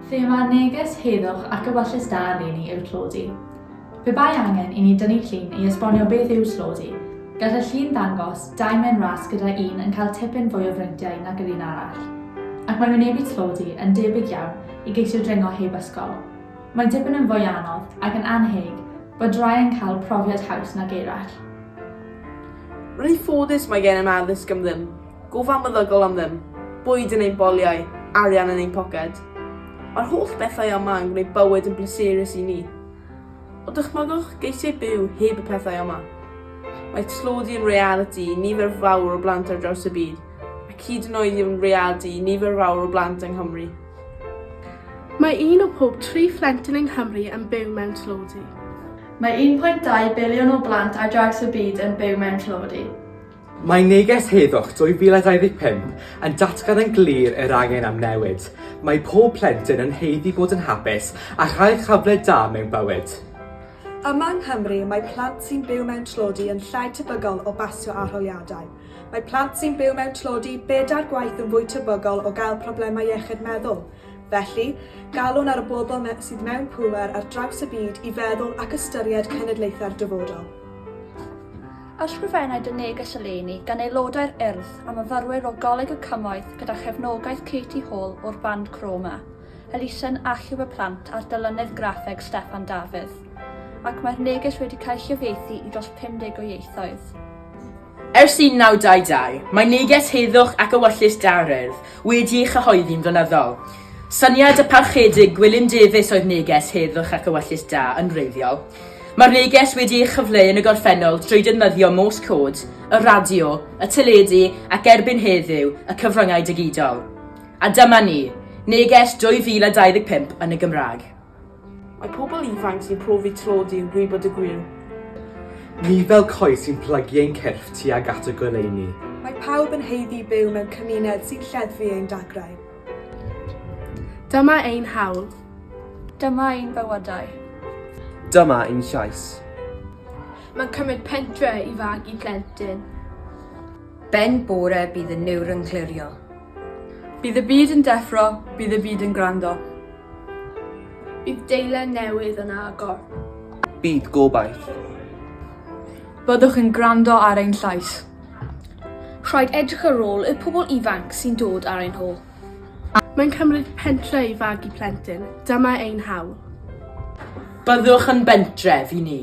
Fe mae'r neges heddwch ac ewyllys da eleni yw tlodi. Pe bai angen i ni dynnu llun i esbonio beth yw tlodi, gall y llun ddangos dau men ras gyda un yn cael tipyn fwy o freintiau nag yr un arall. Ac mae wynebu tlodi yn debyg iawn i geisio dringo heb ysgol. Mae dipyn yn fwy anodd ac yn annheg bod rhai yn cael profiad haws nag eraill. Rwy'n ffodus mae gennym addysg am ddim. gofal meddygol am ddim, bwyd yn ein boliau, arian yn ein poced. Mae'r holl bethau yma yn gwneud bywyd yn bleserus i ni. Ond dychmygwch geisiau byw heb y pethau yma. Mae tlodi yn realiti i nifer fawr o blant ar draws y byd, ac hyd yn oed yw'n realiti i nifer fawr o blant yng Nghymru. Mae un o pob tri phlentyn yng Nghymru yn byw mewn tlodi. Mae 1.2 biliwn o blant ar draws y byd yn byw mewn tlodi. Mae Neges Heddwch 2025 yn datgan yn glir yr angen am newid. Mae pob plentyn yn haeddu bod yn hapus a chael cyfle da mewn bywyd. Yma yng Nghymru, mae plant sy'n byw mewn tlodi yn llai tebygol o basio arholiadau. Mae plant sy'n byw mewn tlodi bedair gwaith yn fwy tebygol o gael problemau iechyd meddwl. Felly, galwn ar y bobl me sydd mewn pŵer ar draws y byd i feddwl ac ystyried cenedlaethau'r dyfodol. Ysgrifennai dy neges eleni gan aelodau'r Urdd a myfyrwyr o Goleg y Cymoedd gyda chefnogaeth Katie Hall o'r band Chroma, elusen achub y plant a'r dylunydd graffeg Steffan Dafydd, ac mae'r neges wedi cael ei chyfieithu i dros 50 o ieithoedd. Ers 1922, mae neges heddwch ac ewyllys da'r Urdd wedi ei chyhoeddi'n flynyddol. Syniad y Parchedig Gwilym Davies oedd neges heddwch ac ewyllys da yn wreiddiol, Mae'r neges wedi ei chyfleu yn y gorffennol drwy defnyddio Morse Code, y radio, y teledu ac erbyn heddiw, y cyfryngau digidol. A dyma ni, neges 2025 yn y Gymraeg. Mae pobl ifanc sy'n profi tlodi yn gwybod y gwir. Ni fel coes sy'n plygu ein cyrff tuag at y goleuni. Mae pawb yn haeddu byw mewn cymuned sy'n lleddfu ein dagrau. Dyma ein hawl. Dyma ein bywydau. Dyma ein llais. Mae'n cymryd pentre i fagu plentyn. Ben bore bydd y niwr yn clirio. Bydd y byd yn deffro, bydd y byd yn gwrando. Bydd deilen newydd yn agor. Bydd gobaith. Byddwch yn gwrando ar ein llais. Rhaid edrych ar ôl y pobl ifanc sy'n dod ar ein hôl. Mae'n cymryd pentre i fagu plentyn. Dyma ein hawl. Byddwch yn bentref i ni.